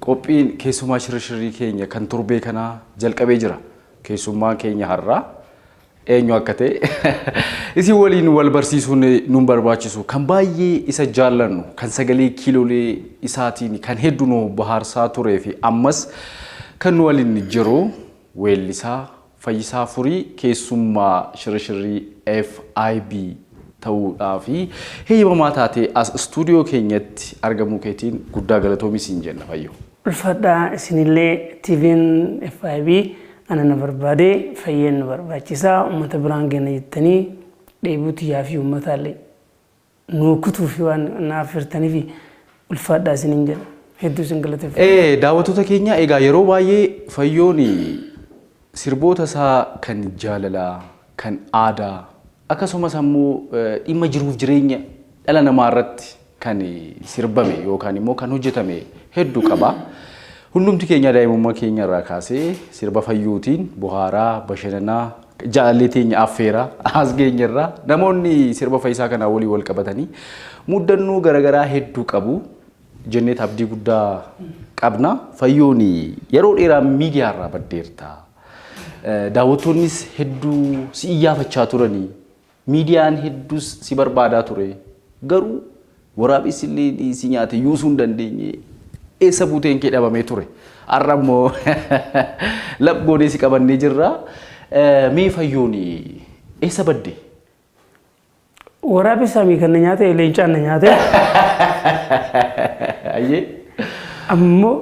Qophiin keessumaa shirrishirrii keenya kan torbee kanaa jalqabee jira. Keessummaan keenya har'aa eenyu akka ta'e isin waliin wal barsiisuun nun barbaachisu. Kan baay'ee isa jaallannu, kan sagalee kiilolee isaatiin kan heddu nu bahaarsaa turee fi ammas kan nu waliin jiru weellisaa Fayyisaa Furii keessummaa shirashirrii FIB ta'uu dhaa fi heyyamamaa taatee as istuudiyoo keenyatti argamuu keetiin guddaa galatoomi siin jenna Fayyoo. Ulfaadhaa isinillee TVn FIB ana na barbaade Fayyeen nu barbaachisaa uummata biraan geena jettanii dheebuu tiyyaa fi uummataallee. Nuu kutuufi waan na affeertanifi ulfaadhaa isinin jedha. Hedduu isin galateeffadha. Ee daawwattoota keenya egaa yeroo baay'ee fayyoon sirboota isaa kan jaalalaa, kan aadaa akkasumas ammoo dhimma jiruuf jireenya dhala namaa irratti kan sirbame yookaan immoo kan hojjetame heddu qaba. Hundumti keenya daa'imummaa keenya irraa kaasee sirba fayyootiin bohaaraa, bashananaa, Jaalallee teenya affeera as geenyerra. Namoonni sirba Fayisaa kanaa waliin wal qabatanii muddannoo garaagaraa hedduu qabu. Jenneet abdii guddaa qabna. Fayyoon yeroo dheeraa miidiyaa irraa baddeerta. Daawwattoonnis hedduu si iyyaafachaa turanii Miidiyaan hedduus si barbaadaa ture. Garuu waraabessi illee si nyaate yuusuu hin dandeenye. Eessa buuteen kee dhabamee ture. Har'a immoo lap goonee si qabannee jirra. Mee fayyoon eessa badde? Waraabessaa mii kan na nyaate leencaan na nyaate. Ayyee. Ammoo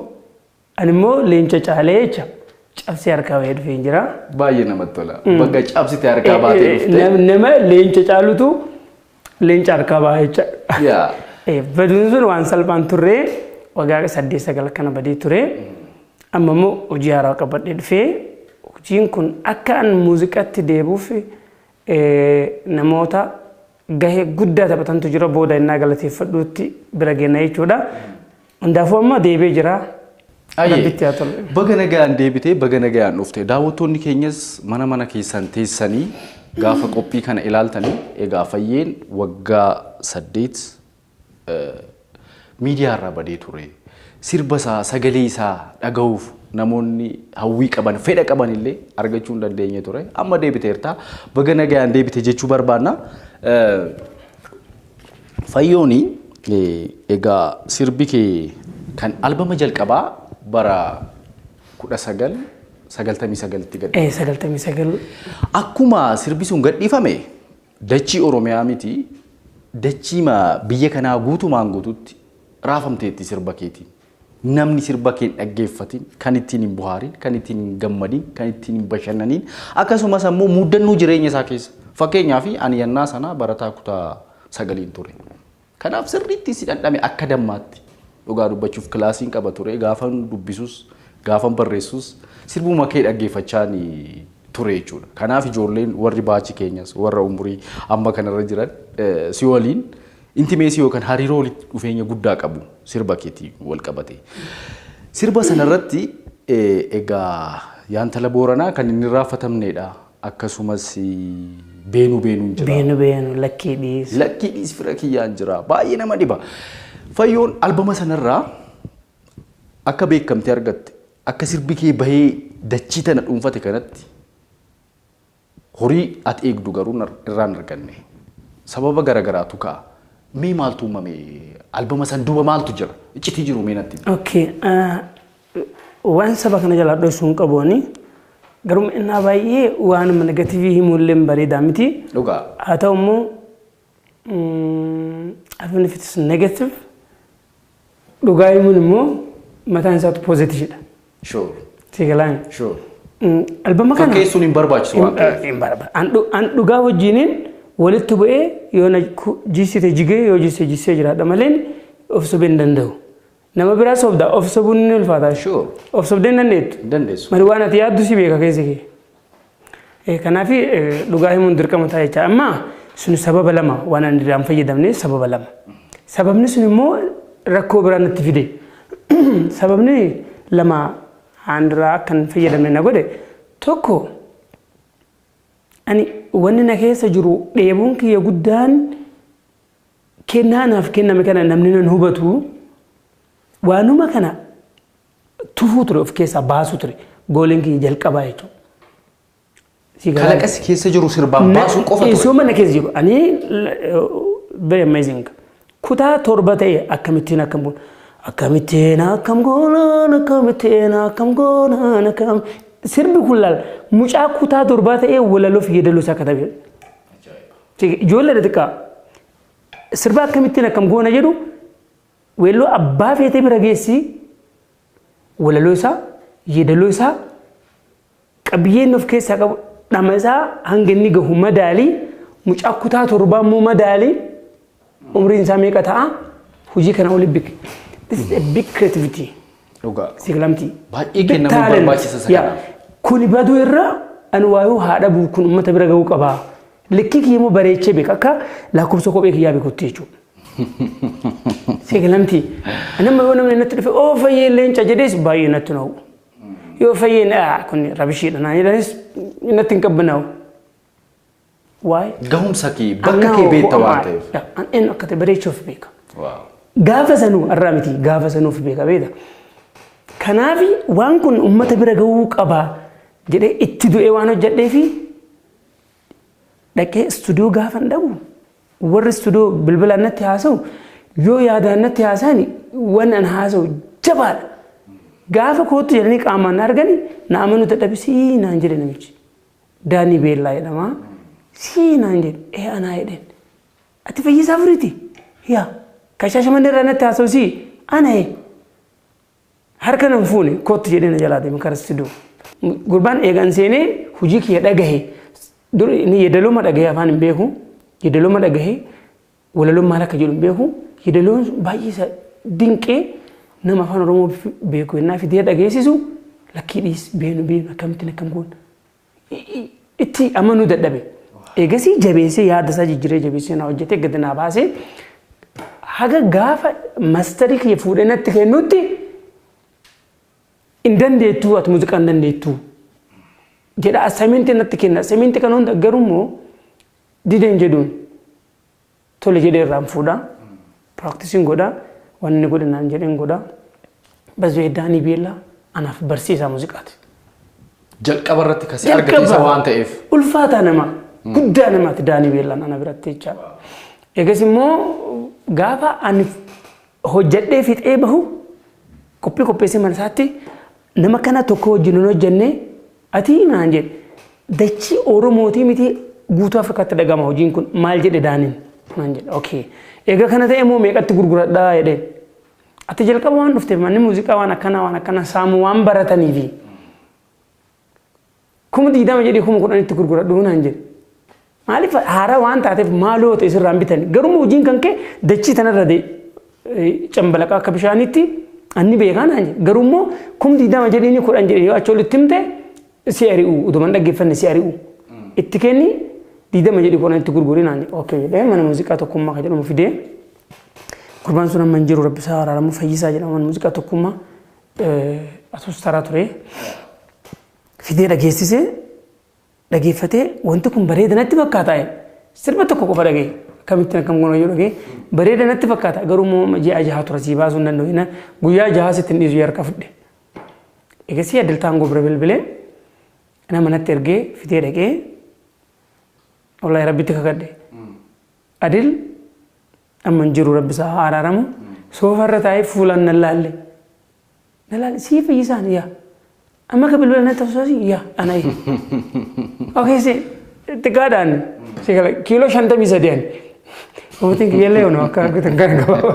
Ani immoo leenca caalee jecha cabsee harkaa bahee dhufeen jira. Baay'ee namatti tola. Bakka cabsite harkaa baatee dhufte. Nam- Nama leenca caalutu leenca harkaa baha jecha. Yaa. Eh, Baduun sun waan salphaan turre waggaa saddeet sagal akkana badee ture. Amma immoo hojii haaraa qabadhee dhufee hojiin kun akka an muuziqaatti deebi'uuf eh, namoota gahee guddaa taphatantu jira booda innaa galateeffadhuutti bira geenna jechuudha. Hundaafuu amma deebi'ee jira. Ayyee. Rabbitti haa tolu. Baga nagayaan deebitee baga nagayaan dhufte. Daawwattoonni keenyas mana mana keessan teessanii gaafa qophii kana ilaaltanii egaa fayyeen waggaa saddeet eh, miidiyaa irraa badee ture. Sirba isaa sagalee isaa dhagahuuf namoonni hawwii qaban fedha qaban illee argachuu hin dandeenye ture. Amma deebiteerta. Baga nagayaan deebite jechuu barbaanna. Eh, Fayyooni egaa sirbi kee kan albama jalqabaa bara 1999tti gad Eh, sagaltamii sagal Akkuma sirbi sun gadhiifame dachii Oromiyaa miti dachiima biyya kanaa guutumaan guututti raafamteetti sirba keetiin. Namni sirba kee hin dhaggeeffatin, kan ittiin hin bohaarin, kan ittiin hin gammadin, kan ittiin hin bashannaniin akkasumas ammoo muddannoo jireenya isaa keessa. Fakkeenyaaf ani yannaa sanaa barataa kutaa sagaliin ture. Kanaaf sirriitti si dhandhame akka dammaatti. Dhugaa dubbachuuf kilaasiin qaba ture. Gaafan dubbisus, gaafan barreessus sirbuma kee dhaggeeffachaan ture jechuudha. Kanaaf ijoolleen warri baachi keenyas warra umurii amma kanarra jiran si waliin Intimeesii yookaan hariiroo walitti dhufeenya guddaa qabu sirba keetii wal qabate. Sirba sana irratti egaa yaantala booranaa kan inni irraanfatamneedha. Akkasumas beenu beenuun jira. Beenu beenu lakkii dhiis. Lakkii dhiis fira kiyyaan jira. Baay'ee nama dhiba. Fayyoon albama sanarraa akka beekamtee argatte akka sirbi kee bahee dachii tana dhuunfate kanatti Horii ati eegdu garuu nar irraa hin arganne. Sababa gara garaatu ka'a. Mee maaltu uumame? Albama san duuba maaltu jira? Iccitii jiru mee natti himi. Okay. ah, Waan saba kana jalaa dhoysuu hin qabu ani. Garuu innaa baay'ee waanuma negatiivii himuullee hin bareedaa miti. Dhugaa. Haa ta'u immoo even if it's negative dhugaa himuun immoo mataan isaatu poozitiivdha. Sure. Sigalaan. Sure. Albama kana. Fakkeessuun hin barbaachisu waan ta'eef. Hin barbaadu. An dhu- An dhugaa wajjiniin walitti bu'ee yoo na ku- jissite jigee yoo jisse jissee jiraadha maleen of sobee hin danda'u. Nama biraa sobda of sobuun ni ulfaata. Sure. Of sobdee hin dandeettu. Hin dandeessu. Mari waan ati yaaddu si beeka keessi kee. Eh, Kanaaf eh, dhugaa himuun dirqama ta'a jecha. Amma sun sababa lama waan ani irraa hin fayyadamne sababa lama. Sababni sun immoo rakkoo biraa natti fide. Sababni lama aan irraa akka hin fayyadamne na godhe tokko ani wanni na keessa jiru dheebuun kiyya guddaan Kennaa naaf kenname kana namni nan hubatu waanuma kana tufuu ture of keessaa baasuu ture gooliin kiyya jalqabaa jechuudha. Si garaa- Kalaqa si keessa jiru sirbaan baasuu qofa ture. Isuma na keessa jiru. Ani very amazing. Kutaa torba ta'e akkamittiin akkam goona. Akkamittiin akkam goonaan akkamittiin akkam goonaan akkam. Sirbi kun laal mucaa kutaa torbaa ta'ee walaloof yeedaloo isaa katabee. Ijoollee xixiqqaa sirba akkamittiin akkam goona jedhu weelluu abbaa feetee bira geessi walaloo isaa yeedaloo isaa qabiyyeen of keessaa qabu dhama isaa hanga inni gahu madaalii mucaa kutaa torbaa immoo madaalii Umriin isaa meeqa ta'a? Hojii kana oli big. This is a big creativity. Dhugaa. Sigilamtii. Baay'ee kennamuu barbaachisa isa kanaaf. Kuni baduu irra ani waayuu haadha bu'u kun uummata bira ga'uu qaba. Likkii kiyya immoo bareechee beeka akka lakkoofsa kophee kiyyaa beekutti jechuudha. Sigilamtii. Ani amma yoo namni natti dhufe oo fayyee leenca jedhees baay'ee natti na'u. Yoo fayyee kun rabishiidha naan jedhanis natti hin qabbanaa'u. Why? Gahumsa kee An bakka now kee beekta who am waan I? ta'eef. Yeah, an eenyu akka ta'e bareechuu of beeka. Waaw. Gaafa sanuu irraa miti gaafa sanuu of beeka beekta. Kanaaf waan kun uummata bira gahuu qaba jedhee itti du'ee waan hojjedhee fi dhaqee istuudiyoo gaafa hin dhabu. Warri istuudiyoo bilbilaan natti haasa'u yoo yaadaan natti haasa'an waan an haasa'u jabaadha. Gaafa kootu jedhanii qaamaan na argani na amanuu dadhabisii naan jedhe namichi. Daanii Beellaa jedhama. Sii naan jedhe ee anaa jedheen. Ati fayyisaa furiiti? Yaa kan shaashamannee irraa natti haasa'u sii ana ee. Harka nan fuune kootti jedhee na jalaa deeme karaa sidoo. Gurbaan eegaan seenee hojii kiyya dhagahe. Dur inni yeedalooma dhagahe afaan hin beeku. Yeedalooma dhagahe Walaloon maal akka jedhu hin beeku. Yedaloon baay'ee isa dinqee nama afaan Oromoo beeku yennaa fidee dhageessisu lakkii dhiis beenu beenu akkamittiin akkam goon itti amanuu dadhabe. Eegasii jabeessee yaada isaa jijjiiree jabeessee naa hojjetee gadi naa baasee haga gaafa mastarii kiyya fuudhee natti kennutti hin dandeettuu ati muuziqaa hin dandeettuu jedha assaayimentii natti kenna assaayimentii kana hunda garuu immoo dideen jedhuun tole jedhee irraan fuudha. Piraaktisiin godha. Wanni godhe naan jedheen godha. Bazwee Daanii Beellaa anaaf barsiisaa muuziqaati. Jalqaba irratti kasi argate isa Jalqaba waan ta'eef. Ulfaataa nama. Guddaa namaati Daanii Beellaan ana biratti jecha. Egas immoo gaafa ani hojjedhee fixee bahu qophii qopheessee mana isaatti nama kana tokko wajjin hin hojjennee Atii naan jedhe dachii Oromootii mitii guutuu Afrikaatti dhagama hojiin kun maal jedhe Daanin naan jedhe okay eega kana ta'e immoo meeqatti gurguradha jedhe ati jalqaba waan dhufteef manni muuziqaa waan akkanaa waan akkanaa saamu waan barataniifi kuma digdama jedhee kuma kudhanitti gurguradhu naan jedhe Maaliif haaraa waan taateef maaloo ta'e sirraan bitan garuu hojiin kan kee dachii tanarra cambalaqaa akka bishaaniitti anni beekaan ani garuu immoo kum digdama jedhiini kudhan jedhee yoo achi olitti himte si ari'u utuman dhaggeeffanne si ari'u itti kenni digdama jedhi kudhan itti gurgurin ani ookee jedhee mana muuziqaa tokkummaa kan jedhamu fidee gurbaan sun amma hin jiru rabbi isaa araaramu fayyisaa jedhama mana muuziqaa tokkummaa asuus taraa ture fidee dhageessisee dhageeffatee wanti kun bareeda natti fakkaata jedhe. sirba tokko qofa dhagee akkamittiin akkam goona yoo dhagee bareeda natti fakkaata garuu immoo ji'a jaha tura sii baasuu hin danda'u jennaan guyyaa jahaa sitti hin dhiisu yarka fudhe. Eegasii addaltaan gobra bilbilee nama natti ergee fitee dhaqee wallahi rabbitti kakadhe. Adil amma hin jiru rabbi isaa haa araaramu soofa irra taa'ee fuulaan nan laalle Na laali sii fayyisaan yaa. Amma ka bilbila na tafsoosi yaa ana yaa. Okay si xiqqaadhaan si gala kiiloo shantamii sadii ani. Mootiin kiyyallee ono akka argitan kana gabaaba.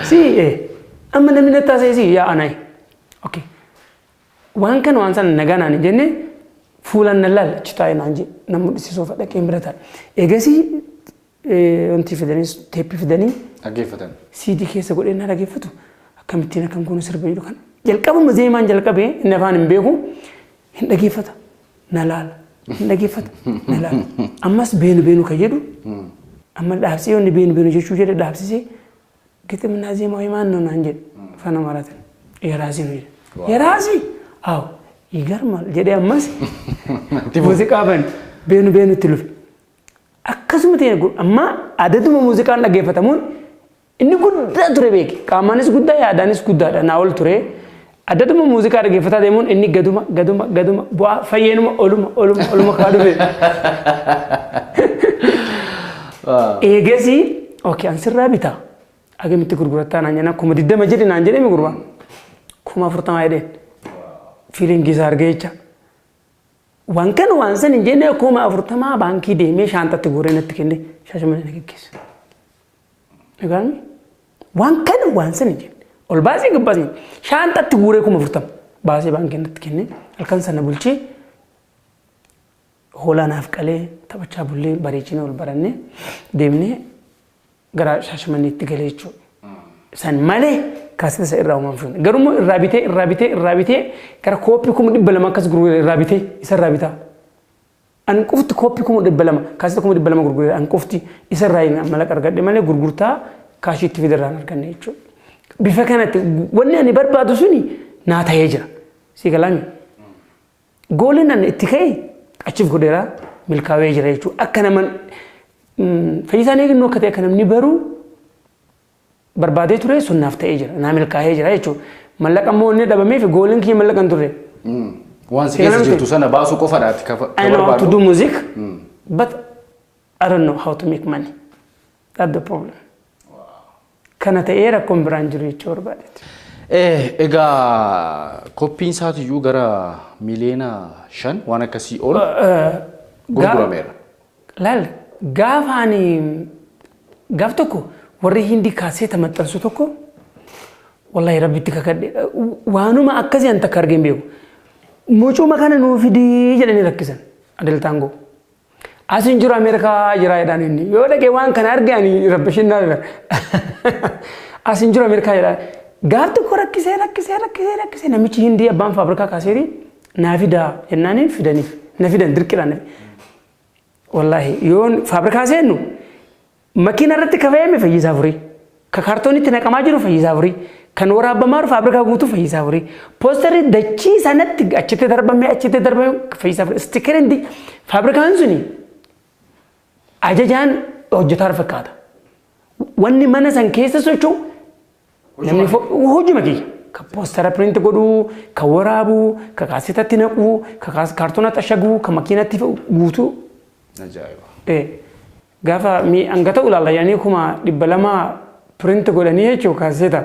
Si ee amma namni na taaseesi yaa ana yaa. Okay. Waan kana waan sana nagaa naan hin jenne fuulaan na laala achi taa'e naan jee na mul'isisuuf dhaqeen bira taa'e. Eegasii Eh, wanti fidanii teeppi fidanii Dhaggeeffatan. siidii keessa godhee na dhaggeeffatu akkamittiin akkan kun sirba jedhu kan jalqabuma zeemaan jalqabee inni afaan hin beeku hin dhaggeeffata na laala hin dhaggeeffata na laala ammas beenu beenu kan jedhu amma dhaabsee yoonni beenu beenu jechuu jedhe dhaabsisee giximnaa zeemaa himaan noo naan jedhe afaan amaaraatiin yaraasii nu jedhe Waaw. yaraasii aw yigarmaal jedhee ammas Itti fufe. muuziqaa bane beenu beenu itti lufe Akkasuma ta'een kun amma adaduma muuziqaan dhaggeeffatamuun inni guddaa ture beeki. Qaamaanis guddaa yaadaanis guddaadha naa ol ture. Adaduma muuziqaa dhaggeeffataa deemuun inni gaduma gaduma gaduma bu'aa fayyeenuma oluma oluma oluma kaa dhufe. Eegasi ok an sirraa bitaa agamitti gurgurattaa naan jenna kuma diddama jedhe naan jedhe mi gurbaan kuma afurtamaa jedheen fiiliingii isaa argee jecha. Waan kana waan san hin jennee kuma afurtamaa baankii deemee shaanxatti guuree natti kennee shaashamanee na geggeesse. Egaan waan kana waan san hin jenne ol baasii gabbaasni shaanxatti guuree kuma afurtama baasee baankii natti kennee halkan sana bulchee hoolaa naaf qalee taphachaa bullee bareechinee ol barannee deemnee gara shaashamanneetti galee jechuudha. San malee kaasitasa irraa uumamu sun. Garuu immoo irraa bitee irraa bitee irraa bitee gara kooppii kuma dhibba lama akkas gurguree irraa bitee isa irraa bitaa. An qofti kooppii kuma dhibba lama kaasita kuma dhibba lama gurguree an qofti isa irraa hin mallaqa argadhe malee gurgurtaa kaashii itti fide irraa hin arganne jechuudha. Bifa kanatti wanni ani barbaadu suni naa ta'ee jira. Sii galaami. Gooliin ani itti ka'e achiif godheera milkaawee jira jechuudha. Akka naman fayyisaan eegnoo akka ta'e akka namni baruu barbaadee ture sun naaf ta'ee jira. Naa milkaa'ee jira jechuudha. Mallaqa immoo inni dhabamee fi gooliin kiyya mallaqa hin turre. Waan si keessa jirtu sana baasuu qofadha ati ka I know how to do music, but I don't know how to make money. That's the problem. Kana ta'ee rakkoon biraan jiru jechuu barbaadeeti. Eh, egaa koppiin isaatiyyuu gara miliyoona shan waan akkasii ol gurgurameera. Laal gaafa ani gaaf tokko warri hindi kaaseeta maxxansu tokko wallahi rabbitti kakadhe waanuma akkasii an takka argeen beeku. Mucuma kana nuu fidii jedhanii rakkisan adeltaangoo. As hin jiru Ameerikaa jira jedhaan inni. Yoo dhaqee waan kana arge ani rabbishin na As hin jiru Ameerikaa jedhaan. Gaaf tokko rakkisee rakkisee rakkisee rakkisee namichi hindii abbaan faabrikaa kaaseerii naa fidaa jennaaniin fidaniif na fidan dirqidhaan. Wallaahi yoon faabrikaa seennu Makiina irratti ka fe'ame fayyisaa afurii. Ka kaartoonii itti naqamaa jiru fayyisaa afurii. Kan waraabbamaa jiru faabrikaa guutuu fayyisaa afurii. Poosterri dachii sanatti achitti darbamee achitti darbamee fayyisaa afurii. Istikiriin di- faabrikaan suni ajajaan hojjetaa fakkaata. Wanni mana san keessa socho'u namni fo- hojuma kiyya. Ka poostara piriinti godhuu, ka waraabuu, ka kaasetatti naquu, ka kaas- kaartoonatti ashaguu, ka makiinatti fe'u guutuu. Ajaa'iba. Eh, Gaafa mi hanga ta'u ilaalla yaanii kuma dhibba lama print godhanii jechuun kaaseeta.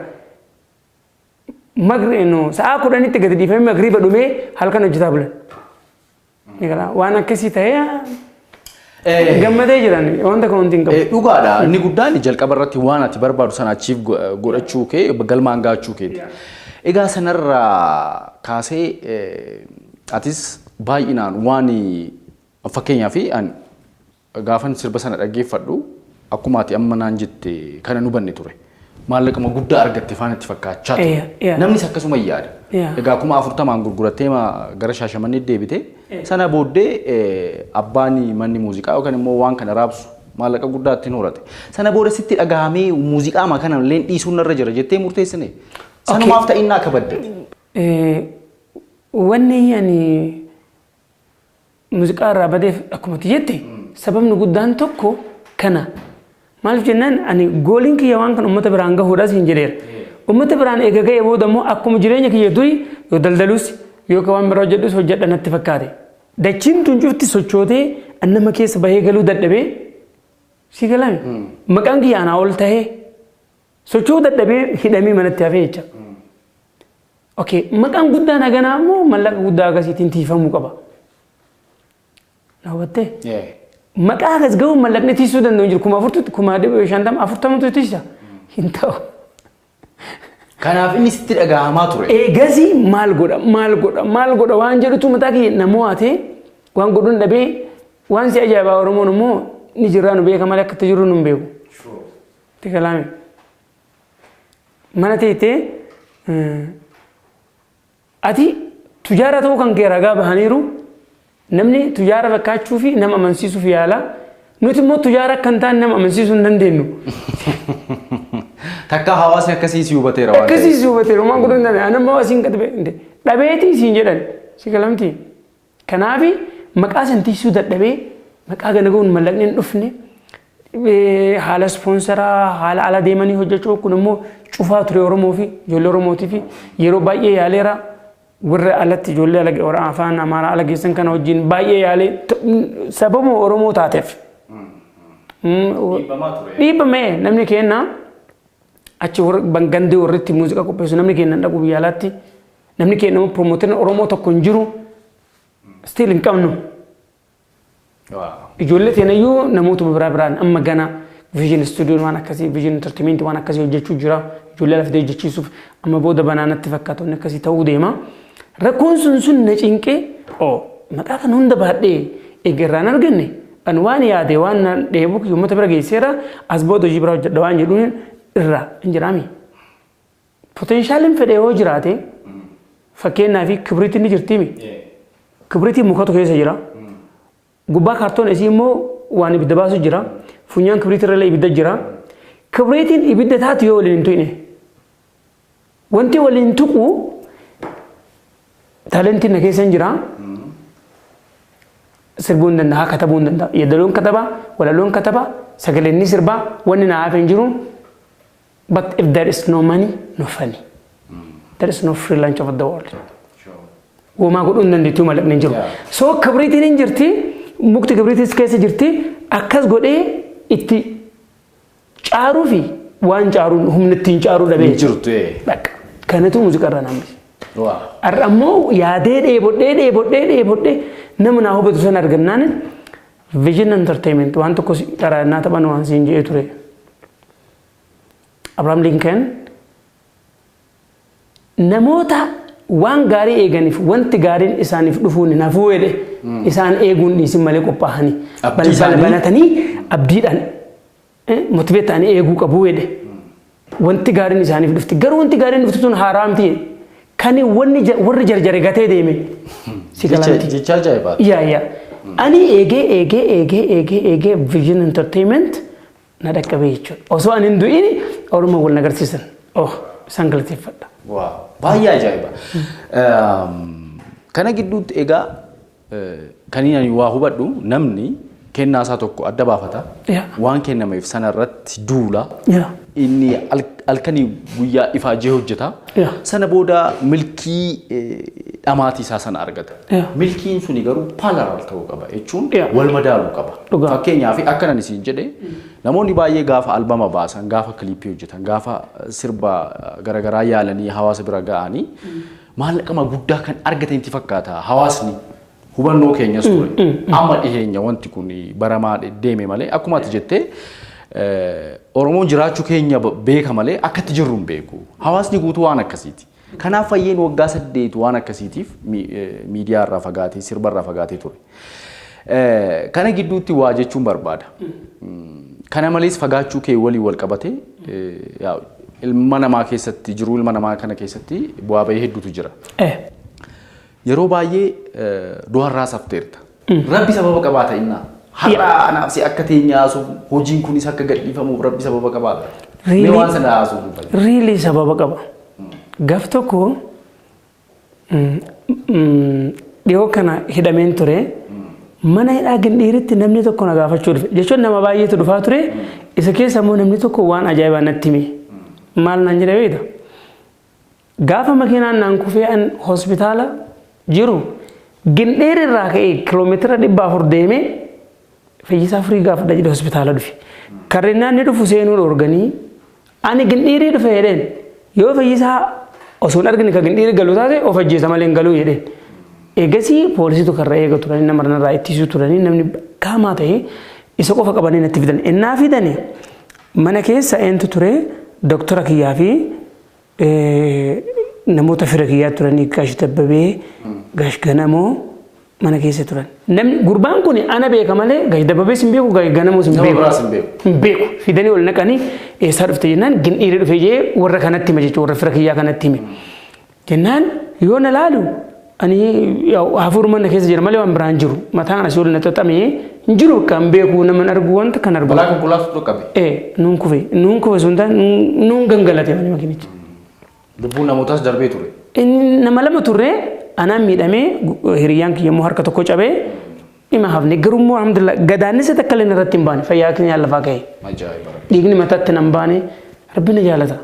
Magri no sa'a kudhanitti gadi dhiifamee magriiba dhumee halkan hojjetaa bulan. Ni gala waan akkasii ta'ee Eh, gammadee jiran wanta kun hundi hin qabu. eh, Dhugaadha. Inni guddaan jalqaba irratti waan ati barbaadu sana achiif godhachuu kee galmaan gaachuu keeti. Egaa sanarraa kaasee eh, atis baay'inaan waan fakkeenyaaf an Gaafan sirba sana dhaggeeffadhu akkuma ati amma naan jette kana hin hubanne ture. Maallaquma guddaa argatte faan itti fakkaachaa ture. Yeah, yeah. Namnis akkasuma hin yaada. Yeah. Egaa kuma afurtamaan gurgurattee ma gara shaashamanneetti deebite. Sana booddee eh, abbaan manni muuziqaa yookaan immoo waan kana raabsu maallaqa guddaa ittiin horate. Sana booda sitti dhagahamee muuziqaa ma kana illee dhiisuun narra jira jettee murteessine. Sanumaaf ta'innaa kabadde. Eh, Wanni ani Muuziqaa irraa badeef akkuma ati jette sababni guddaan tokko kana. Maaliif jennaan ani gooliin kiyya waan kan uummata biraan gahuudhaas hin jedheera. Uummata biraan eega ga'ee booda immoo akkuma jireenya kiyya durii yoo daldalus yookaan waan biraa hojjedhus hojjedha natti fakkaate. Dachiin tun cufti sochootee an nama keessa bahee galuu dadhabee si galame. Maqaan kiyya anaa ol tahee Socho'uu dadhabee hidhamee manatti hafee jecha. Okay, maqaan guddaan haganaa immoo mallaqa guddaa akkasiitiin tiifamuu qaba. Na hubattee? Yeah. Maqaa akkas ga'uun mallaqni tiisuu danda'u hin jiru. Kuma afurtutti, kuma dhibba shantama, afurtamatu tiisa. Hin ta'u. Kanaaf inni sitti dhagahamaa ture. Eegasii maal godha, maal godha, maal godha waan jedhutu mataa kiyya na mo'atee waan godhuun dhabee waan si ajaa'ibaa Oromoon immoo ni jirraa nu beeka malee akka itti jirru nu hin beeku. Itti galaame. Mana teettee ati tujaara ta'uu kan kee ragaa bahaniiru namni tujaara fakkaachuu fi nama amansiisuuf yaala. Nuti immoo tujaara akka hin taane nama amansiisuu hin dandeenyu. Takka hawaasni akkasii si hubateera waan Akkasii si hubateera waan godhuu hin dandeenye. Ani immoo asiin gad ba'e dhabeetii siin jedhan si galamtii. Kanaafi maqaa san tiksuu dadhabee maqaa gana ga'uun mallaqni hin dhufne haala ispoonsaraa haala ala deemanii hojjechuu kun immoo cufaa ture Oromoo fi ijoollee Oromootii fi yeroo baay'ee yaaleera warra alatti ijoollee ala warra afaan Amaaraa ala geessan kana wajjin baay'ee yaalee sababuma Oromoo taateef. Dhiibbamee namni keenya achi gandee warritti muuziqaa qopheessu namni keenya dhaquu biyya alaatti. Namni keenna promoterin Oromoo tokko hin jiru. Still hin qabnu. Ijoollee teenayyuu namootuma biraa biraan amma gana vision studio waan akkasii vision entertainment waan akkasii hojjechuu jira. Ijoollee lafdee hojjechiisuuf amma booda banaanatti fakkaatu inni akkasii ta'uu deema. Rakkoon sun sun na cinqee oo maqaa kan hunda baadhee eegarraan arganne an waan yaade waan na dheebuu uummata bira geesseera as booda hojii biraa hojjedha waan jedhuun irraa hin jiraami. Potenshaaliin fedhe yoo jiraate fakkeenyaa fi kibriitiin ni jirtiimi. Kibriitiin mukatu keessa jira. Gubbaa kaartoon isii immoo waan ibidda baasu jira. Funyaan kibriitii irra ibidda jira. Kibriitiin ibidda taatu yoo waliin hin tuqne. Wanti waliin tuqu taalentiin na keessa hin jira. Sirbuu hin danda'a, katabuu hin danda'a. Yeedaloon kataba, walaloon kataba, sagaleen ni sirbaa, wanni na hafe hin jiru. But if there is no money, no funny. There is no free lunch of the world. Womaa godhuu hin dandeettuu mallaqni hin jiru. Yeah. So kibriitiin hin jirti, mukti kibriitiis keessa jirti, akkas godhee itti caaruu fi waan caaruun humni ittiin caaruu dhabee. Hin jirtu ee. Bakka. Kanatu muuziqaa irraa namni. Waa. Har'a ammoo yaadee dheebodhee dheebodhee dheebodhee nama naa hubatu san argannaan vision entertainment waan tokko si- karaa innaa taphan waan siin jedhee ture. Abrahaam Linkan namoota waan gaarii eeganiif wanti gaariin isaaniif dhufuun hin hafuu jedhe isaan eeguun dhiisin malee qophaa'anii Abdii balbala isaanii- banatanii abdiidhaan eh, motiveet ta'anii eeguu qabu jedhe wanti gaariin isaaniif dhufti garuu wanti gaariin dhufti sun haaraa miti jedhe. kan wanni ja- warri jarjare gatee deeme si Jecha galanti jecha ajaa'ibaati. yaa yaa ani eegee eegee eegee eegee eegee vision entertainment na dhaqqabee jechuudha. Osoo ani hin du'in orma wal na garsiisan. Oh, isaan galateeffadha. Waaw, baay'ee ajaa'iba. Kana gidduutti egaa kan ani waa hubadhu namni kennaa isaa tokko adda baafata. Yaa. Waan kennameef sana irratti duula. Yaa. Inni al- halkanii guyyaa ifaajee hojjeta. Yaa. Sana booda milkii eh, dhamaatii isaa sana argata. Yaa. Milkiin suni garuu parallel ta'uu qaba jechuun Yaa. wal madaaluu qaba. Dhugaa. Fakkeenyaaf akkan ani siin jedhe namoonni baay'ee gaafa albama baasan, gaafa kiliippii hojjetan, gaafa sirba garaagaraa yaalanii hawaasa bira ga'anii maallaqama guddaa kan argatan itti fakkaata hawaasni hubannoo keenyas ture. Amma dhiheenya wanti kun baramaa de- deeme malee akkuma ati jettee eh, Oromoon jiraachuu keenya b- beeka malee akkatti jirru hin beeku. Hawaasni guutuu waan akkasiiti. Kanaaf Fayyeen waggaa saddeet waan akkasiitiif miidiyaa irraa fagaatee, sirba irraa fagaatee ture. Kana gidduutti waa jechuun barbaada. Kana malees fagaachuu kee waliin wal qabatee ilma namaa keessatti jiruu ilma namaa kana keessatti bu'aa bahii hedduutu jira. Yeroo baay'ee du'arraa safteerta. Rabbi sababa qabaa ta'innaa. Har'a anaaf si akka teenye haasofnu hojiin kunis akka gadhiifamuuf rabbi sababa qabaa ta'a. Mee Really? waan sana haasofnu fayyada. Riilii sababa qaba. Gaf tokko mm, mm, dhiyoo kana hidhameen ture. Mana hidhaa gindhiiritti namni tokko na gaafachuu dhufe. Jechuun nama baay'eetu dhufaa ture. Isa keessa immoo namni tokko waan ajaa'ibaa natti hime. Maal naan jedhe beekta? Gaafa makiinaan naan kufee an hospitaala jiru gindheer irraa ka'ee kiiloomeetira dhibba afur deemee fayyisaa firii gaafadha jedhe hospitaala dhufe. Karrinnaan ni dhufu seenuu dhoorganii ani gindhiirii dhufe jedheen yoo fayyisaa osoo hin argine ka gindhiirii galu taate of ajjeesa malee hin galuu jedheen. Eegasii poolisiitu karra eega turanii nama irraa ittisuu turanii namni kaamaa ta'e isa qofa qabanii natti fidan. Innaa fidani mana keessa eentu ture doktora kiyyaa fi Namoota fira kiyyaa turanii Gaash Dabbabee, Gaash Ganamoo mana keessa turan. Namni gurbaan kun ana beeka malee Gaash Dabbabees hin beeku, Gaash Ganamoos hin Nama beeku. biraas hin beeku. Hin beeku. Fidanii ol naqanii eessaa dhufte jennaan gin dhiirri dhufe jee warra kanatti hima jechuudha warra fira kiyyaa kanatti hime. Jennaan yoo na laalu Ani hafuuruma na keessa jira malee waan biraan jiru. Mataan asii ol na xaxamee hin jiru bakka hin beeku nama hin argu wanta kan argu. Balaa konkolaatu dhaqqabe. Ee nuun kufe nuun kufe sun ta'an nuun gangalate wani makinichi. Lubbuun namootaas darbee ture. Inni nama lama turre anaan miidhamee hiriyyaan kiyya immoo harka tokko cabee dhima hafne garuu immoo alhamdulillah gadaannisa takka illee irratti hin baane fayyaa keenya lafaa ka'e. Ajaa'iba. Dhiigni mataatti nan baane rabbi na jaalata.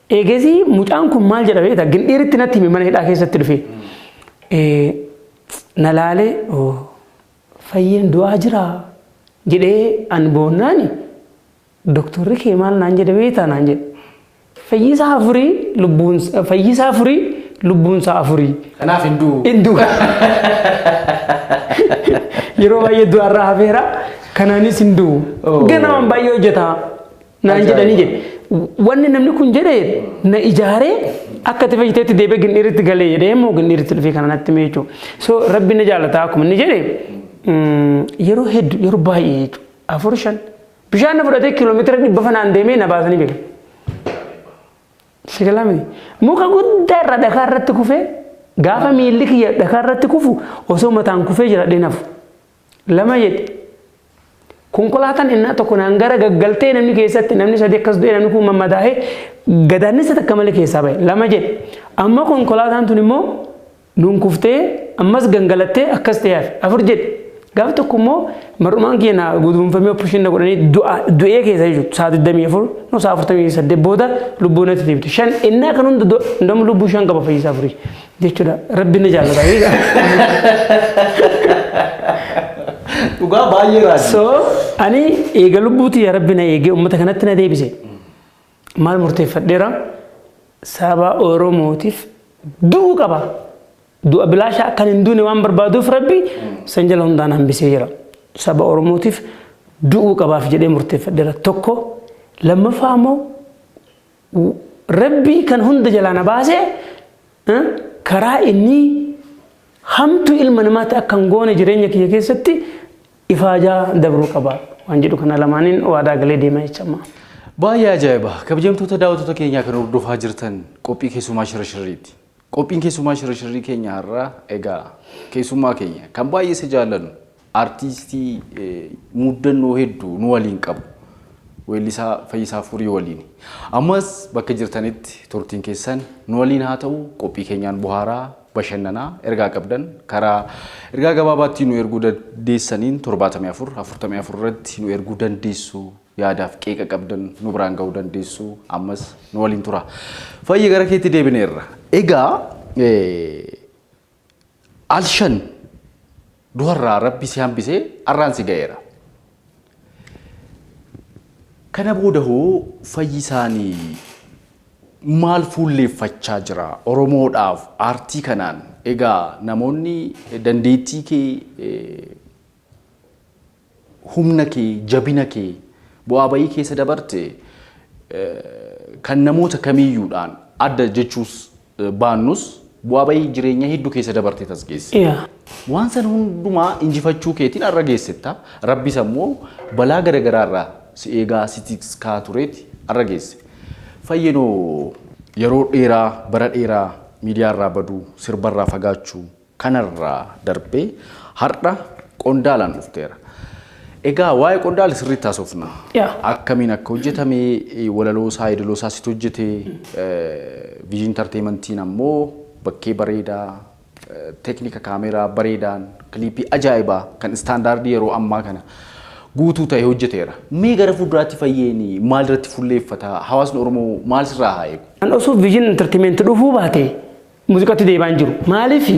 Eegasii mucaan kun maal jedha beektaa? Gindhiiritti natti hime mana hidhaa keessatti dhufe. Na laalee fayyeen du'aa jira jedhee an boonnaani doktorri kee maal naan jedhe beektaa naan jedhe. Fayyisaa afurii lubbuun fayyisaa afurii lubbuunsaa afurii. Kanaaf hin du'u. Hin du'u. Yeroo baay'ee du'arraa hafeera kanaanis hin du'u. Ganamaan baay'ee hojjeta. naan jedhanii jedhe. Wanni namni kun jedhe na ijaaree akka itti fayyiteetti deebee gindhiiritti galee jedhee immoo gindhiiritti dhufee kana natti himee jechuudha. So rabbi na jaalataa akkuma inni jedhe yeroo hedduu yeroo baay'ee jechuudha. Afur shan bishaan na fudhatee kiiloomeetira dhibba fanaan deemee na baasanii beeku. Sigalami muka guddaa irra dhakaa irratti kufee gaafa miilli kiyya dhakaa irratti kufu osoo mataan kufee jira dhinafu. Lama jedhe. Konkolaataan innaa tokko naan gara gaggaltee namni keessatti namni sadi akkas du'e namni kun mammadaa'ee gadaannisa takka malee keessaa ba'e. Lama jedhe. Amma konkolaataan tun immoo nuun kuftee ammas gangalattee akkas ta'e hafe. Afur jedhe. Gaaf tokko immoo mar'umaan kiyya na guduunfamee operation na godhanii du'a du'ee keessa jechuudha. Sa'a 24 no sa'a 48 booda lubbuu natti deebite. Shan innaa kan hunda domu lubbuu shan qaba fayyisaa furii. jechuudha. Rabbiin na jaallata. Dhugaa baay'ee raajii. So ani eega lubbuuti yaa rabbi na eegee uummata kanatti na deebise. Maal murteeffadheera? Saba Oromootiif du'uu qaba. Du'a bilaashaa akkan hin duune waan barbaaduuf rabbi san jala hundaan hambisee jira. Saba Oromootiif du'uu qabaaf jedhee murteeffadheera. Tokko lammaffaa ammoo Rabbii kan hunda jalaa na baase karaa inni hamtuu ilma namaatti akka hin goone jireenya kiyya keessatti ifaajaa dabruu qaba waan jedhu kana lamaaniin waadaa galee deema jecha ammaa. Baay'ee ajaa'iba! Kabajamtoota daawwattoota keenyaa kan hordofaa jirtan qophii keessumaa shira shirriiti. Qophiin keessummaa shirashirrii keenya har'aa egaa keessummaa keenya kan baay'ee isa jaallannu artiistii muuddannoo hedduu nu waliin qabu weellisaa Fayyisaa Furii waliin. Ammas bakka jirtanitti turtiin keessan nu waliin haa ta'u qophii keenyaan bohaaraa bashannanaa ergaa qabdan karaa ergaa gabaabaatti nu erguu dandeessaniin 74 44 irratti nu erguu dandeessu Yaadaaf qeeqa qabdan nu biraan ga'uu dandeessu. Ammas nu waliin tura. Fayyi gara keetti deebineerra. Egaa alshan duharraa rabbi si hambisee arraan si ga'eera. Kana booda hoo fayyisaanii maal fuulleeffachaa jira Oromoodhaaf aartii kanaan egaa namoonni dandeettii kee humna kee, jabina kee, bu'aa ba'ii keessa dabarte kan namoota kamiiyyuudhaan adda jechuus baannus bu'aa ba'ii jireenya hedduu keessa dabarteet as geesse. Yaa. Waan san hundumaa injifachuu keetiin har'a geessetta. Rabbis ammoo balaa garagaraa irraa si eegaa si tikskaa tureet har'a geesse. Fayyenoo yeroo dheeraa bara dheeraa miidiyaa irraa baduu, sirba irraa fagaachuu, Kanarraa darbee har'a qondaalaan dhufteera. Egaa waa'ee qondaala sirriitti haasofna. Yaa. Akkamiin akka hojjetame, walaloo isaa, yeedaloo isaa situ hojjete, viizhin intarteemantiin ammoo bakkee bareedaa, teeknika kaameeraa bareedaan, kiliipii ajaa'ibaa kan istaandaardii yeroo ammaa kana guutuu ta'e hojjeteera. Mee gara fuulduraatti Fayyeen maalirratti fulleeffata? Hawaasni Oromoo maal sirraa haa eegu? An osoo viizhin intarteementi dhufuu baatee Muuziqatti deebaan jiru. Maaliif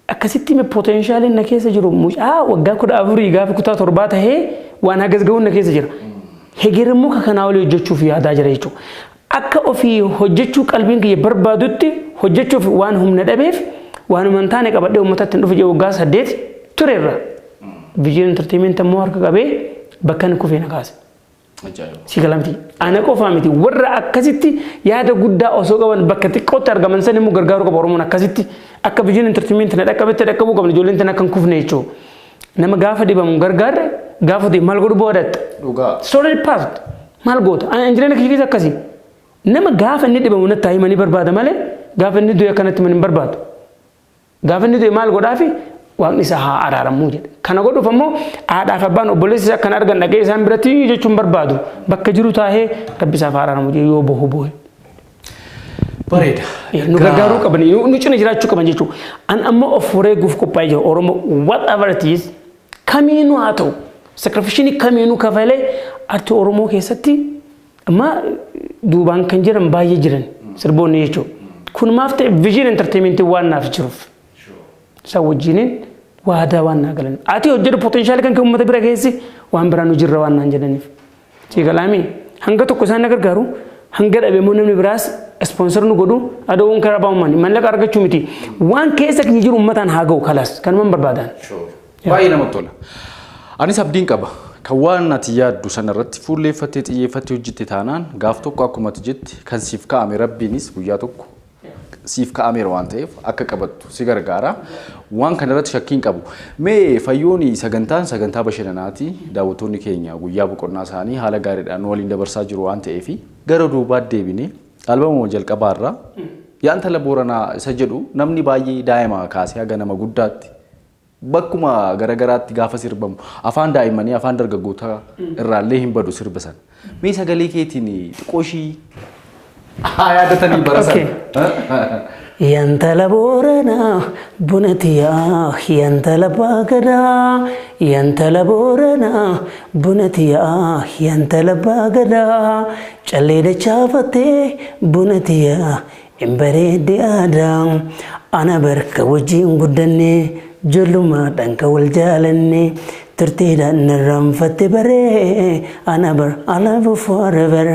akkasitti potenshaaliin na keessa jiru mucaa waggaa kudha afurii gaafa kutaa torbaa tahee waan hagas gahuun na keessa jira. Hegerimmoo ka kanaa olii hojjechuuf yaadaa jira jechuudha. Akka ofii hojjechuu qalbiin kiyya barbaadutti hojjechuuf waan humna dhabeef waanuma hin taane qabadhee uummatatti hin dhufu jee waggaa saddeet turerra. Viijin intarteemeenti ammoo harka qabee bakka inni kufee na kaase. Ajaa'iba. Si gala miti. Ana qofaa miti. Warra akkasitti yaada guddaa osoo qaban bakka xiqqootti argaman san immoo gargaaruu qaba Oromoon akkasitti akka biyyoon intartimeenti na dhaqqabetti dhaqqabuu qabna ijoolleen tan akka hin kufne jechuudha. Nama gaafa dhibamu gargaarre gaafa ta'e maal godhu boodatta. Dhugaa. Story past maal goota? Ana injireen kiyya keessa akkasi. Nama gaafa inni dhibamu natti himanii barbaada malee gaafa inni du'e akkanatti himan hin barbaadu. Gaafa inni du'e maal godhaafi? Waaqni isaa haa araaramu jedhe. Kana godhuuf ammoo haadhaaf abbaan obboleessi isaa kan argan dhaqee isaan biratti jechuun barbaadu bakka jiru taa'ee rabbi isaaf haa araaramu jedhe yoo bohu bohe. Bareeda. Nu gargaaruu qaban nu cina jiraachuu qaban jechuudha. An ammoo of wareeguuf qophaa'ee jira Oromoo whatever it is kamiinuu haa ta'u sakrifishinii kamiinuu kafalee artii Oromoo keessatti Amma duubaan kan jiran baay'ee jiran sirboonni jechuudha. Kun maaf ta'e viizhin enterteementii waan naaf jiruuf. Isaan wajjiniin waadaa waan naa galan. Ati hojjetu potenshaali kan kee uummata bira keessi waan biraa nu jirra waan naan jedhaniif. Ciigalaamii hanga tokko isaan na gargaaru hanga dhabe immoo namni biraas ispoonsar nu godhu adoowwan karaa baa'ummaan mallaqa argachuu miti. Waan keessa keenya jiru uummataan haa ga'u kalas kanumaan barbaadaan. Baay'ee namatti tola. Anis abdiin qaba. Kan waan ati yaaddu sana irratti fuulleeffattee xiyyeeffattee hojjette taanaan gaaf tokko akkuma ati jette kan siif kaa'ame rabbiinis guyyaa tokko siif kaa'ameera waan ta'eef akka qabattu si gargaara. Waan kana irratti shakkiin qabu. Mee fayyooni sagantaan sagantaa bashannanaati. Daawwattoonni keenya guyyaa boqonnaa isaanii haala gaariidhaan nu waliin dabarsaa jiru waan ta'eef gara duubaatti deebinee albamuma jalqabaa irraa yaa intala booranaa isa jedhu namni baay'ee daa'ima kaasee haga nama guddaatti Bakkuma gara garaatti gaafa sirbamu afaan daa'immanii afaan dargaggootaa irraallee hin badu sirba sana. Mee sagalee keetiin xiqqoo ishii haa yaadatanii bara sana. Yantala boorana buna tiyaa yantala baagada yantala boorana buna tiyaa yantala baagada callee dachaafattee buna tiyaa Hin bareeddi aadaa ana barka wajjiin guddanne jollumaadhaan ka wal jaalanne turtiidhaan narraanfatte baree ana bar ala bufoore bar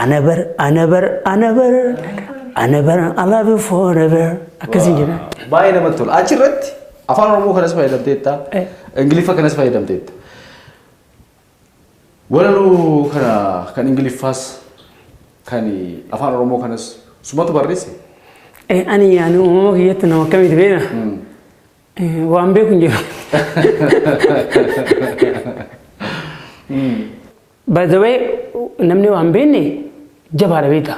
ana bar ana bar ana bar ana bar ala bufoore bar akkasiin jedha. Baay'ee namatti tola. Achi irratti afaan Oromoo kanas fayyadamteetta. Ingiliffa kanas fayyadamteetta. Walaloo kana kan Ingiliffaas kan Afaan Oromoo kanas sumatu barreesse? Eh, Ani ani uumama kiyyatti nama akkamiiti beekna? Eh, Waan beeku hin jiru. By the way, namni waan beekne jabaadha beekta.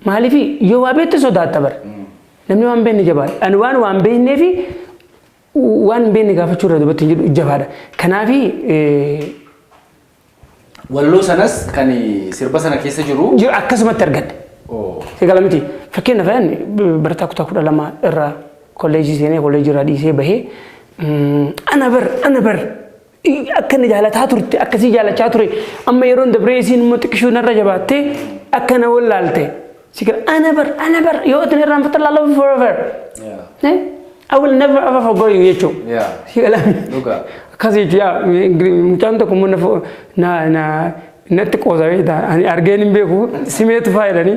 Maaliif yoo waa beekte sodaatta bara. Namni waan beekne jabaadha. Ani waan waan beekneefi Waan beekne gaafachuu irra dubartiin jedhu jabaadha. Kanaafi Walloo sanas kan sirba sana keessa jiru. jiru akkasumatti argadhe. Oo. Egaa miti fakkeenyaaf ayaan barataa kutaa kudha lama irraa kolleejii seenee kolleejii irraa dhiisee bahee mm, ana bar ana bar akka na jaalataa turte akkasii jaalachaa ture amma yeroon dabree isiin immoo xiqqishuu narra jabaattee akka na wallaalte si gara ana bar ana bar yoo itti irraan fata laaloo forever Eh? I will never ever forget you jechuun Yeah. si gala Dhugaa. akkas jechuun yaa ingili- mucaan tokko immoo na fo- na na natti qoosa beektaa ani argeen hin beeku simeetu faayidanii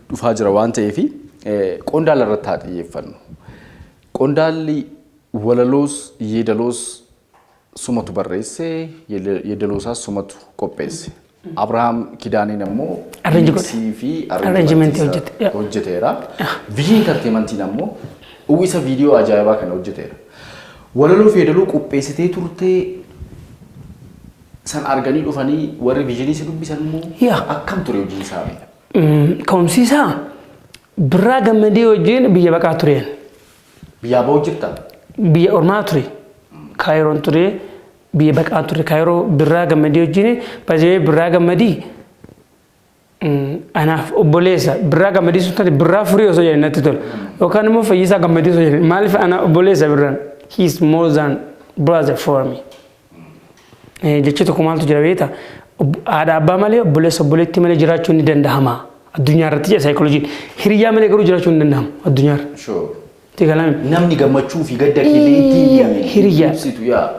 dhufaa jira waan ta'eef qondaala irratti haa xiyyeeffannu. Qondaalli walaloos yeedaloos sumatu barreesse yeedaloosaas sumatu qopheesse. Abrahaam Kidaaneen ammoo Arrange godhe. miiksii fi Arrangementii arrangementii hojjete. isaa hojjeteera. Viyii Intarteemantiin ammoo uwwisa viidiyoo ajaa'ibaa kana hojjeteera. Walaloo fi yeedaloo qopheessitee turtee san arganii dhufanii warri viijinii si dubbisan immoo Yaa. akkam ture hojiin isaanii? Ka'umsiisaa birraa gammadee wajjin biyya baqaa tureen. Biyyaa ba'uu jirta? Biyya ormaa ture. Kaayiroon ture. Biyya baqaa ture. Kaayiroo birraa gammadee wajjin baay'ee birraa gammadii. Anaaf obboleessa birraa gammadii sun taate birraa furii osoo jedhan natti tola. Yookaan immoo fayyisaa gammadii osoo jedhan maaliif ana obboleessa birraan he is more than brother for me. Jechi tokko maaltu jira beekta? Haadha abbaa malee obboleessa obboleettii malee jiraachuun ni danda'ama. Addunyaa irratti jedha saayikolojiin. Hiriyaa malee garuu jiraachuun ni danda'ama addunyaa irra. Sure. Itti galame. Namni gammachuu fi gadda keellee ittiin Hiriyaa. ibsitu yaa.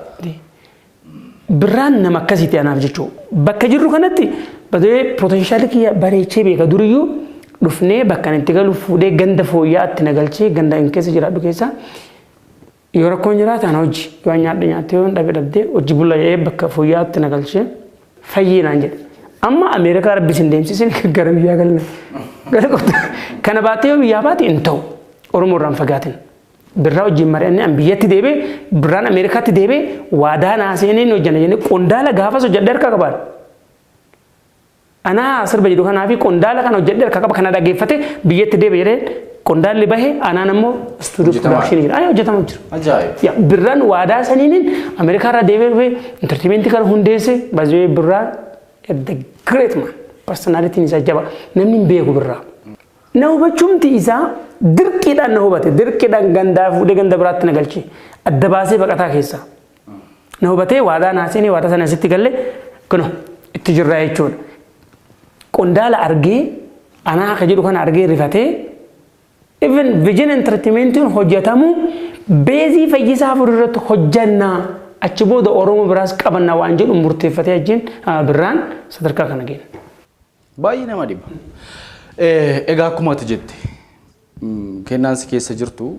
Birraan nama akkasiiti anaaf jechuu. Bakka jirru kanatti badee potenshaali kiyya bareechee beeka duriyyuu dhufnee bakka ani itti galu fuudhee ganda fooyya'aatti na galchee ganda inni keessa jiraadhu keessaa Yoo rakkoon jiraate ana hojji. Yoo an nyaadhe nyaatte yoo an dhabe dhabde hojji bulla jedhee bakka fooyya'aatti na galchee fayyii naan jedhe. Amma Ameerikaa rabbi sin deemsisin gara biyyaa galna. Gara qotta. Kana baattee yoo biyyaa baate hin ta'u. Oromoo irraan fagaatin. Birraa wajjin mari'annee an biyyatti deebee birraan Ameerikaatti deebee waadaa naa seenee hin hojjanna jennee qondaala gaafas hojjadhee harkaa qabaadha. Anaa sirba jedhu kanaa fi qondaala kana hojjedhe harka qaba kana dhageeffate biyyatti deebi jedhee qondaalli bahe anaan ammoo istuudiyoo Hojjetamaa. production jira. Ayii hojjetamaa jira. Ajaa'iba. Ya, birraan waadaa saniinin Ameerikaa irraa deemee dhufee intartimentii kana hundeesse baay'ee birraan the great man personalitiin isaa jaba namni hin beeku birraa. Na hubachuumti isaa dirqiidhaan na hubate dirqiidhaan gandaa fuudhee ganda biraatti na galche adda baasee baqataa keessaa. Na hubatee waadaa naa seenee waadaa sana sitti galle kuno itti jirraa jechuudha. Qondaala argee anaa akka jedhu kana argee rifatee even vision entertaimentiin hojjetamu beezii fayyisaa furu irratti hojjannaa achi booda Oromoo biraas qabanna waan jedhu murteeffatee ajjin birraan sadarkaa kana geenya. Baay'ee nama dhiba. Egaa akkuma ati jette kennaan si keessa jirtu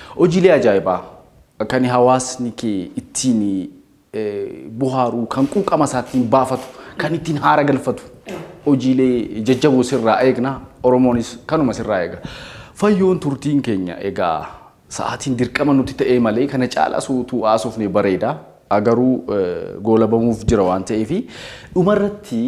Hojiilee ajaa'ibaa kan hawaasni kee ittiin bohaaru, kan quuqama isaa ittiin baafatu, kan ittiin haara galfatu hojiilee jajjaboo sirraa eegna. Oromoonis kanuma sirraa eega. Fayyoon turtiin keenya egaa sa'aatiin dirqama nutti ta'ee malee kana caalaas utuu haasofne bareeda. Garuu goolabamuuf jira waan ta'eef dhumarratti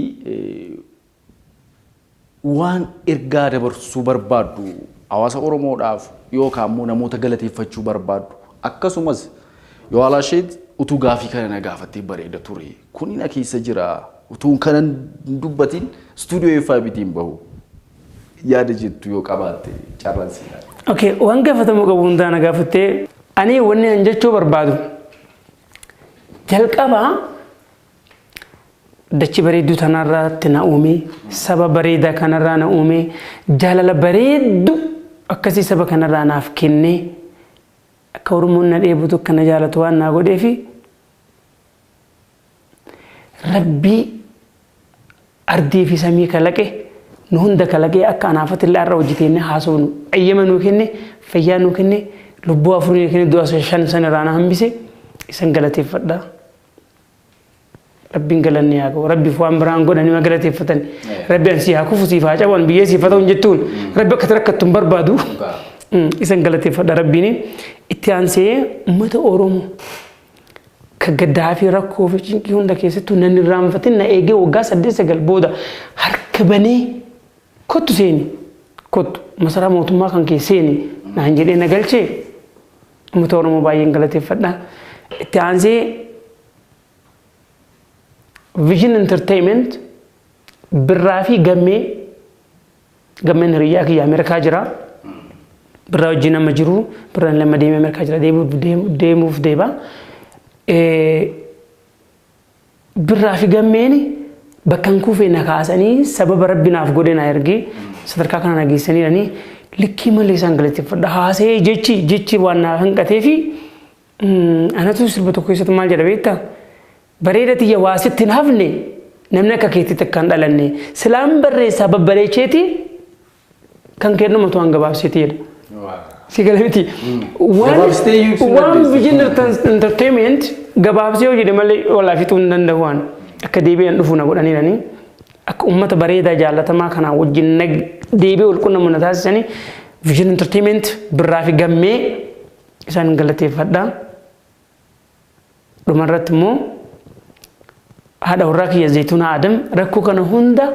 Waan ergaa dabarsuu barbaaddu hawaasa Oromoodhaaf yookaan immoo namoota galateeffachuu barbaaddu akkasumas Yowaalaasheet utuu gaaffii kana na gaafattee bareeda ture. Kuni na keessa jira utuun kana hin dubbatiin istuudiyoo FIBT hin bahu. Yaada jettu yoo qabaatte carraan sii laata. Okay, waan gaafatamuu qabu hundaa na gaafattee. Ani wanni an jechuu barbaadu jalqaba Dachi bareedduu tanarratti na uume, saba bareedaa kanarraa na uume, jaalala bareeddu akkasii saba kanarraa naaf kenne, akka Oromoon na dheebutu akka na jaalatu waan naa godheefi Rabbii ardii fi samii kalaqe nu hunda kalaqee akka anaafatilla har'a hojjeteenye haasofnu ayyama nuu kenne fayyaa nuu kenne lubbuu afurii kenne du'a shan san irraa na hambise isan galateeffadha. Rabbiin galanni haa ga'u. Rabbiif waan biraan godhan hima galateeffatan. Rabbi an sii haa kufu siif haa cabu an biyyee siif haa ta'u hin jettuun. Rabbi akka rakkattu hin barbaadu. Mm, Isan galateeffadha Rabbiin. Itti aansee uummata Oromoo ka gaddaa fi rakkoo fi cinqii hunda keessattuu nan irraanfatin na eegee waggaa saddeet sagal booda harka banee kottu seeni kottu masaraa mootummaa kan kee seeni naan jedhee na galchee Uummata Oromoo baay'een galateeffadha. Itti aansee Vision Entertainment birraa fi gammee gammeen hiriyyaa kiyya Ameerikaa jira. Birraa wajjin amma jiru birraan lama deemee Ameerikaa jira deemuuf deeba. Birraa fi gammeeni bakka hin kuufee na kaasanii sababa rabbi naaf godhe na ergee sadarkaa kana na geessanii jedhanii likkii malee isaan galateeffadha. Haasa'ee jechi jechi waan naaf hanqatee fi anatu sirba tokko keessatti maal jedha beektaa? Bareeda tiyya waa sitti hin hafne namni akka keetti takka hin dhalanne silaan barreessaa babbareecheeti Kan kennuma tu waan gabaabsitee dha. Si gala miti. Waan Gabaabsitee iyyuu ibsuu waan dandeessi. vision enter- entertainment gabaabsee yoo jedhe malee walaa fixuu hin danda'u waan. Akka deebi'an dhufu na godhaniiranii. Akka uummata bareedaa jaallatamaa kanaa wajjin nag deebi'ee wal quunnamu na taasisanii vision entertainment birraa fi gammee isaan galateeffadha. Dhumarratti immoo haadha warraa kiyya Zaytuunaa Adam rakkoo kana hunda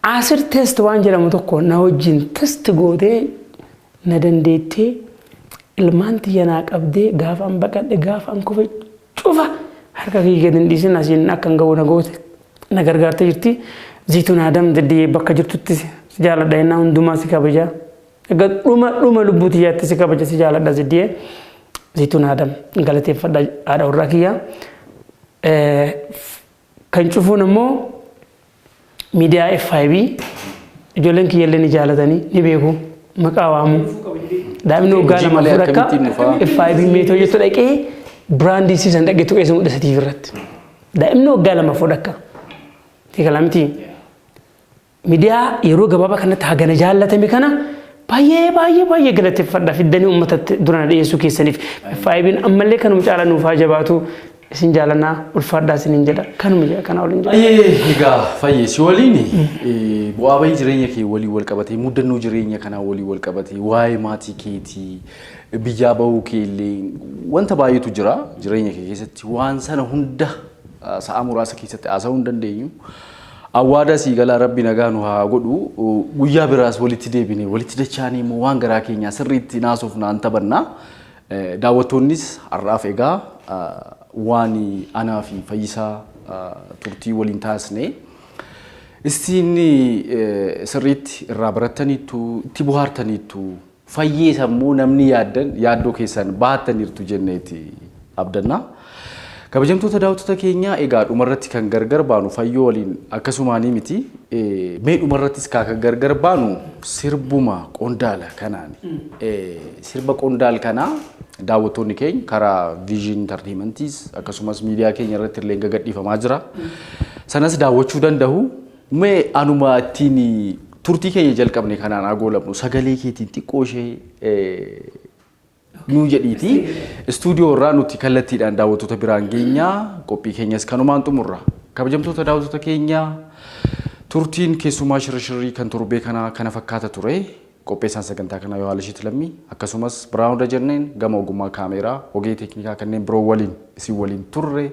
asir test waan jedhamu tokko na wajjin test gootee na dandeettee ilmaan tiyya naa qabdee gaafa an baqadhe gaafa an kufe cufa harka kiyya gadi hin dhiisin asiin akka hin gahu na goote na gargaartee jirti. Zaytuun Adam daddee bakka jirtutti si jaaladha innaa hundumaa si kabajaa. Egaa dhuma dhuma lubbuu tiyyaatti si kabaja si jaaladha Ziddiyee. Zituun Adam galateeffadha haadha warraa kiyya. Kan cufuun immoo miidiyaa FIB ijoolleen kiyya illee ni jaalatanii ni beeku maqaa waamu. Daa'imni waggaa lama malee fudhakka akkamittiin dhufaa? FIB meetoo jettu dhaqee biraandii siisan dhaqee tuqee isa mudhisa TV irratti. Daa'imni waggaa lama fudhakka. Tiikala miti. Midiyaa yeroo gabaabaa kanatti hagana jaallatame kana baay'ee baay'ee baay'ee galateeffadha fiddanii uummatatti durana dhiyeessuu keessaniif FIBn ammallee kanuma caalaa nuuf haa jabaatu isin jaalannaa ulfaadhaa isiniin jedha kanuma jedha kanaa waliin jedha. Ayyee egaa fayyee si waliin bu'aa bayii jireenya kee waliin wal qabatee muddannoo jireenya kanaa waliin wal qabatee waa'ee maatii keetii biyyaa bahuu kee illee wanta baay'eetu jira jireenya kee keessatti waan sana hunda sa'a muraasa keessatti haasa'uu hin dandeenyu. Awwaadaa sii galaa rabbi nagaa nu haa godhu guyyaa biraas walitti deebine walitti dachaanii immoo waan garaa keenyaa sirriitti naasuuf naan tabanna daawwattoonnis har'aaf egaa waan anaa fi fayyisaa turtii waliin taasne istiin sirriitti irraa barattaniittu itti buhaartaniittu fayyee sammuu namni yaaddan yaaddoo keessan bahattaniirtu jenneeti abdanna. Kabajamtoota daawwattoota keenyaa egaa dhumarratti kan gargar baanu fayyoo waliin akkasumaanii miti. Mee dhumarrattis kaa kan gargar baanu sirbuma qondaala kanaani. Sirba qondaal kanaa daawwattoonni keenya karaa Vision Entertainmentis akkasumas miidiyaa keenya irratti illee gagadhiifamaa jira. Sanas daawwachuu danda'u. Mee anuma ittiin turtii keenya jalqabne kanaan haa goolabnu. Sagalee keetiin xiqqoo ishee nuu jedhiitii istuudiyoo irraa nuti kallattiidhaan daawwattoota biraan geenya. Qophii keenyas kanumaan xumurra. Kabajamtoota daawwattoota keenya turtiin keessumaa shirrishirrii kan torbee kanaa kana fakkaata ture. Qopheessaan sagantaa kanaa Yohaalishiit Lammii akkasumas Biraanuu Dajanneen gama ogummaa kaameeraa ogeeyyii teeknikaa kanneen biroo waliin isin waliin turre